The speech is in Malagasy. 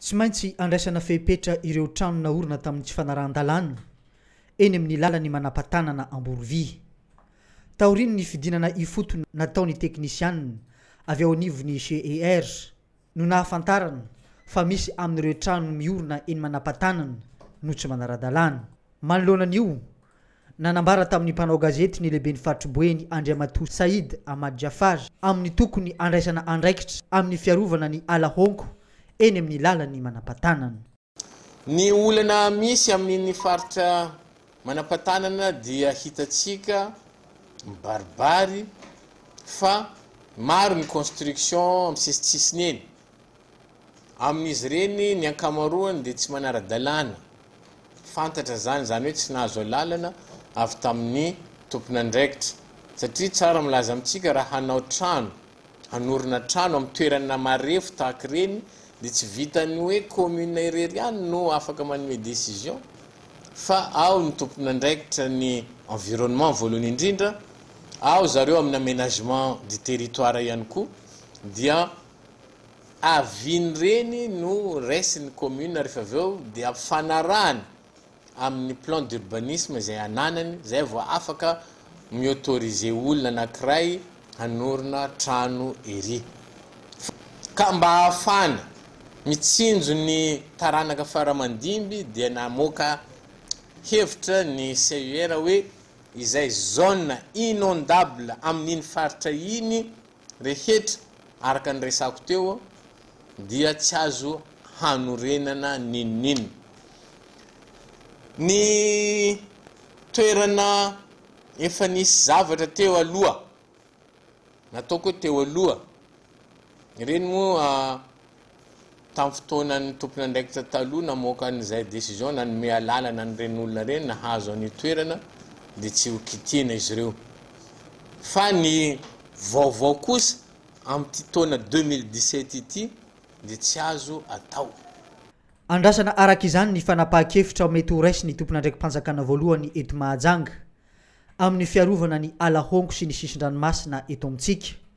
Tsy maintsy handraisana fepetra ireo trano naorina tamin'ny tsy fanarahan-dalàna eny amin'ny lalan'ny manampatanana Amborovia. Taorian'ny fidinana ifotony nataon'ny teknisianina avy ao anivon'ny GER no nahafantarana fa misy amin'ireo trano miorina eny manampatanana no tsy manara-dalàna. Manoloana an'io, Nanambara tamin'ny mpanao gazety ny lehiben'ny faritry Boeny Andriamatoa Said Ahmad Jafar amin'ny tokony handraisana andraikitra amin'ny fiarovana ny ala honko eny amin'ny lalan'ny manampatanana. Ny olana misy amin'iny faritra manampatanana dia hitantsika mibaribary fa maro ny construction amin'ny sisintsisiny eny. Amin'izy ireny ny ankamaroany dia tsy manara-dalàna, fantatra izany, izany hoe tsy nahazo alalana avy tamin'ny tompon'andraikitra, satria tsara milaza amintsika raha hanao trano, hanorina trano amin'ny toerana marefo tahaka ireny dia tsy vitan'ny hoe commune irery ihany no afaka manome décision fa ao ny tompon'andraikitra ny environnement voalohany indrindra, ao zareo amin'ny aménagement du territoire ihany koa dia Aviny reny no raisin'ny commune rehefa avy eo dia ampifanarahany amin'ny plan d'urbanisme izay ananany izay vao afaka mi-autoriser olona anankiray hanorina trano ery. Ka mba hahafahana mitsinjo ny taranaka faramandimby dia namoaka hevitra ny CUR hoe izay zone inondable amin'iny faritra iny rehetra araka ny resako teo dia tsy azo hanorenana n'inon'inona. Ny toerana efa nisy zavatra teo aloha, nataoko hoe teo aloha, ireny moa Tamin'ny fotoanan'ny tompon'andraikitra taloha namoaka an'izay décision nanome alalana an'ireny olona ireny nahazo an'io toerana dia tsy ho kitihina izy ireo. Fa ny vaovao kosa amin'ity taona deux mille dix-sept ity dia tsy azo atao. Andrasana araka izany ny fanapahan-kevitra mety ho raisin'ny tompon'andraiki-panjakana voalohany eto Mahajanga amin'ny fiarovana ny ala honko sy ny sisin-dranomasina eto amintsika.